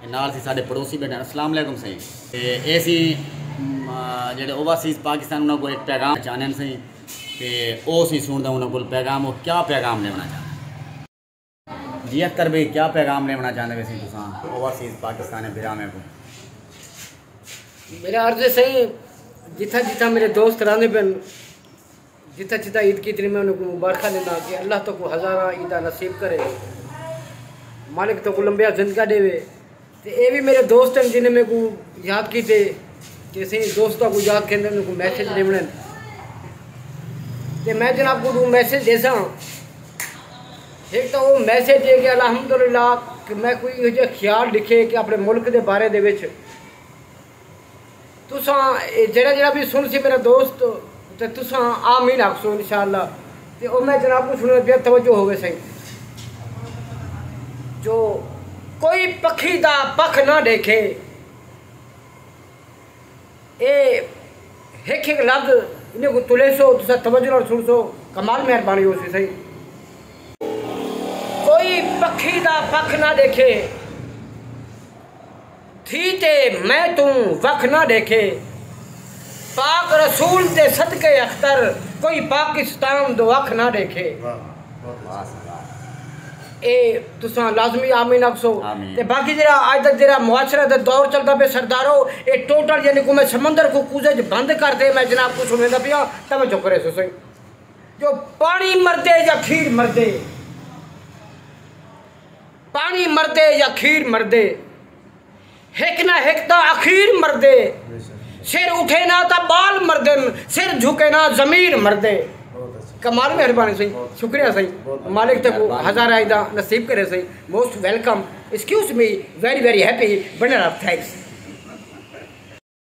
اے نال اسی ساڈے پڑوسی بیٹھے ہن اسلام علیکم سئیں تے اے سی جیڑھے اوورسیز پاکستان انہاں کول ہک پیغام چاہنن سئیں تے او اسی سنڑدا انہاں کول پیغام او کیا پیغام ڈیونڑاں چاہندے جی اختر بھئی کیا پیغام ڈیونڑاں چاہندے وے سئیں تساں اوورسیز پاکستانی بھراواں کوں۔ میرا عرض ہے سائیں جتھاں جتھاں میرے دوست رہندے پن جتھاں جتھاں عید کیتی میں انہاں کوں مبارخاں ڈینداں کہ اللہ تہاکوں ہزاراں عیداں نصیب کرے مالک تہاکوں لمبیاں زندگاں ڈیوے تے اے وی میرے دوست ہیں جنہیں میں کوں یاد کیتے کہ سیں دوستاں کو یاد کھیندے انہاں کو میسج ڈیونے تے میں جناب کو دو میسج دیساں ایک تو وہ میسج ہے کہ الحمدللہ کہ میں کوئی یہ خیال لکھے کہ اپنے ملک دے بارے دے وچ تساں اے جیڑھا جیڑھا وی سنڑسی میرا دوست تے تساں آمین آکھسو انشاءاللہ تے او میں جناب کوں سنڑن پیا توجہ ہووے سئیں جو کوئی پکھی دا پکھ نہ ڈیکھے اے ہک ہک لفظ انہاں کوں تلیسو تساں توجہ نال سنڑسو کمال مہربانی ہوسی سئیں کوئی پکھی دا پکھ نہ ڈیکھے تھی تے میں توں وکھ نہ ڈیکھے۔ پاک رسول دے صدقے اختر کوئی پاکستان دو اکھ نہ ڈیکھے۔ اے تساں لازمی آمین آکھسو تے باقی جیڑھا اج دا جیڑھا معاشرہ دا دور چلدا پیا سردارو اے ٹوٹل یعنی کوئی میں سمندر کوں کوزے اچ بند کر دے میں جناب کوں سنڑیندا پیاں توجہ کریسو صحیح جو پانی مردے یا کھیر مردے۔ پانی مردے یا کھیر مردے ہک نہ ہک تاں اخیر مردے سر اٹھے نہ تاں بال مردن سر جھکے نہ ضمیر مردے کمال مہربانی سہی شکریہ سہی مالک تک ہزار آئی دا نصیب کرے سہی most welcome excuse me very very happy banner up thanks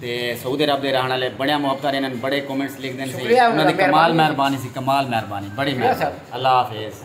تے سعودی عرب دے رہن آلے بڑیاں محبت آلے انہاں بڑے کومنٹس لکھ دین سی انہاں دی کمال مہربانی سی کمال مہربانی بڑی مہربانی اللہ حافظ